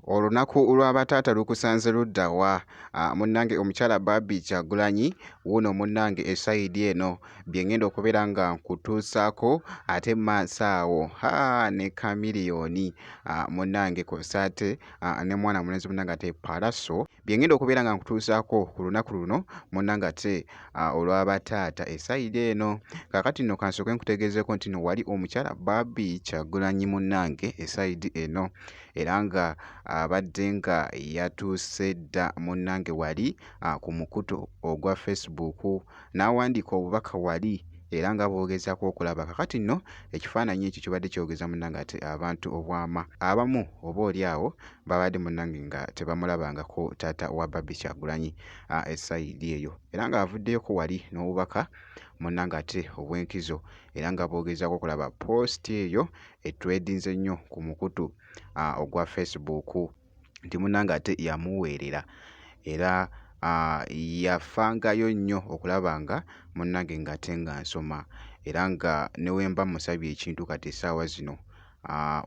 olunaku lw'abataata lukusanze ludda wa ah, munnange omukyala baabi kyagulanyi wuuno munnange esayidi eno bye ngenda okubeera nga nkutuusaako ate maaso awo ha ne kamiliyoni ah, munnange kosaate ah, ne mwana mulenzi munnange ate palaso byengenda okubeera nga nkutuusaako ku lunaku luno munanga ate olwaba taata esayide eno kakati nno kansooke nkutegeezeeko nti no wali omukyala baabi kyagulanyi munange esayidi eno era nga abadde nga yatuuse dda munange wali ku mukutu ogwa facebook n'awandiika obubaka wali era nga bwogezako okulaba kakati nno ekifaananyi ekyo kibadde kyogeza munange ate abantu obwama abamu oba oli awo babadde munnange nga tebamulabangako taata wa Barbie Kyagulanyi esayidi eyo era ng'avuddeyoko wali n'obubaka munnange ate obw'enkizo era nga boogezaako okulaba poositi eyo etredinze nnyo ku mukutu ogwa Facebook nti munnange ate yamuweerera era yafangayo nnyo okulaba nga munnange ng'ate nga nsoma era nga ne we mba musabye ekintu kati essaawa zino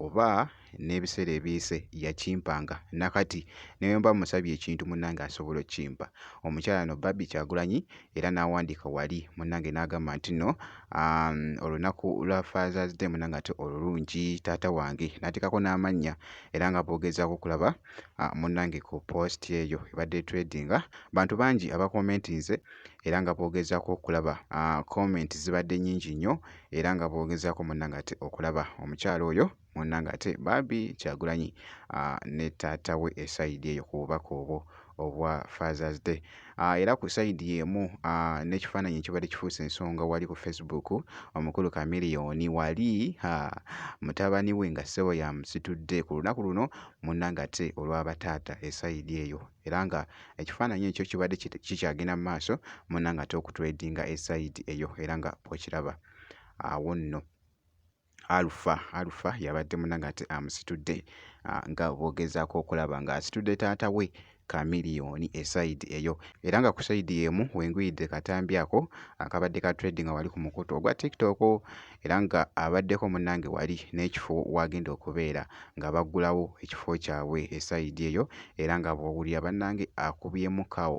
oba n'ebiseera ebiyise yakimpanga nakati ne bwe mba mmusabye ekintu munnange asobola okukimpa. Omukyala no Barbie Kyagulanyi era n'awandiika wali munnange n'agamba nti no olunaku lwa Father's Day munnange ate olulungi taata wange n'ateekako n'amannya era nga boogezaako okulaba munnange ku post eyo ebadde tradinga bantu bangi abakomentinze era nga boogezaako okulaba comment zibadde nnyingi nnyo era nga boogezaako munnange ate okulaba omukyala oyo munnange ate bambi Kyagulanyi ah, ne taata we esayidi eyo ku bubaka obwo obwa Father's Day. Ah, era ku sayidi y'emu ah, n'ekifaananyi ekibadde kifuuse ensonga wali ku Facebook omukulu Kamiliyoni wali ah, mutabani we nga ssebo yamusitudde ku lunaku luno munnange ate olwaba taata esayidi eyo era nga ekifaananyi ekyo kibadde kikyagenda mu maaso munnange ate okutwedinga esayidi eyo era nga bw'okiraba awo nno. Alpha Alpha yabadde munange ate amusitudde ah, nga bogezaako okulaba ng'asitudde taata we Chameleone esayidi eyo era nga ku sayidi emu wenguyidde katambi ako akabadde ka trading wali ku mukutu ogwa tiktok era nga abaddeko munnange wali n'ekifo wagenda okubeera nga baggulawo ekifo kyabwe esayidi eyo era nga bw'owulira bannange akubyemu kawo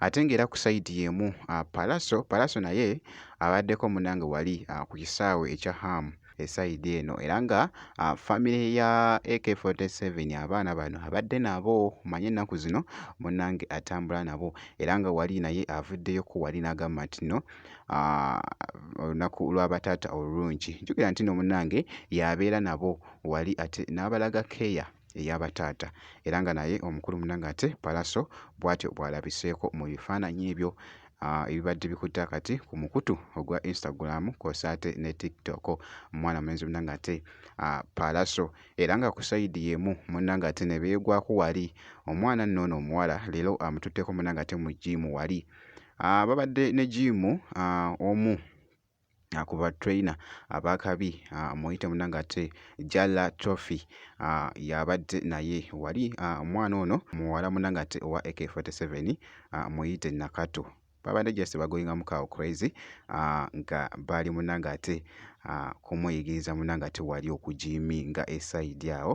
ate ng'era ku sayidi y'emu ah, palaso palaso naye abaddeko munange wali ah, ku kisaawe ekya hamu esayidi eno era nga ah, famire ya ak47 abaana bano abadde nabo manye ennaku zino munange atambula nabo era nga wali naye avuddeyoko wali n'agamba nti no olunaku lw'abataata olulungi njukira nti no munange yabeera nabo wali ate n'abalaga keeya eya bataata era nga naye omukulu munange ate palaso bwatyo bwalabiseeko mu bifaananyi ebyo ah, ebibadde bikutte akati ku mukutu ogwa instagram kwosa ate ne tiktok omwana mulenzi munange ate ah, palaso era nga ku sayidi yemu munange ate ne beegwako wali omwana nno ono omuwala leero amututteko munange ate mu jiimu wali ah, babadde ne jiimu omu ku ba trainer ab'akabi muyite muna ng'ate Jalla Trophy y'abadde naye wali omwana ono muwala muna ng'ate owa AK47 muyite Nakato babadde just bagoyinga mu kawo crazy nga baali muna ng'ate kumuyigiriza muna ng'ate wali okujiiminga esayidi awo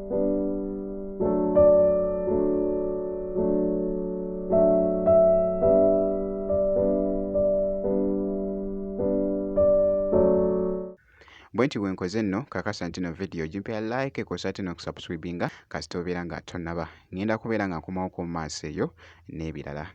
bwe nti bwenkoze nno kakasa nti no vidiyo gimpera like kosa ate nokusubscribinga kasita obeera nga tonaba ngenda kubeera nga nkomawo ku maaso eyo n'ebirala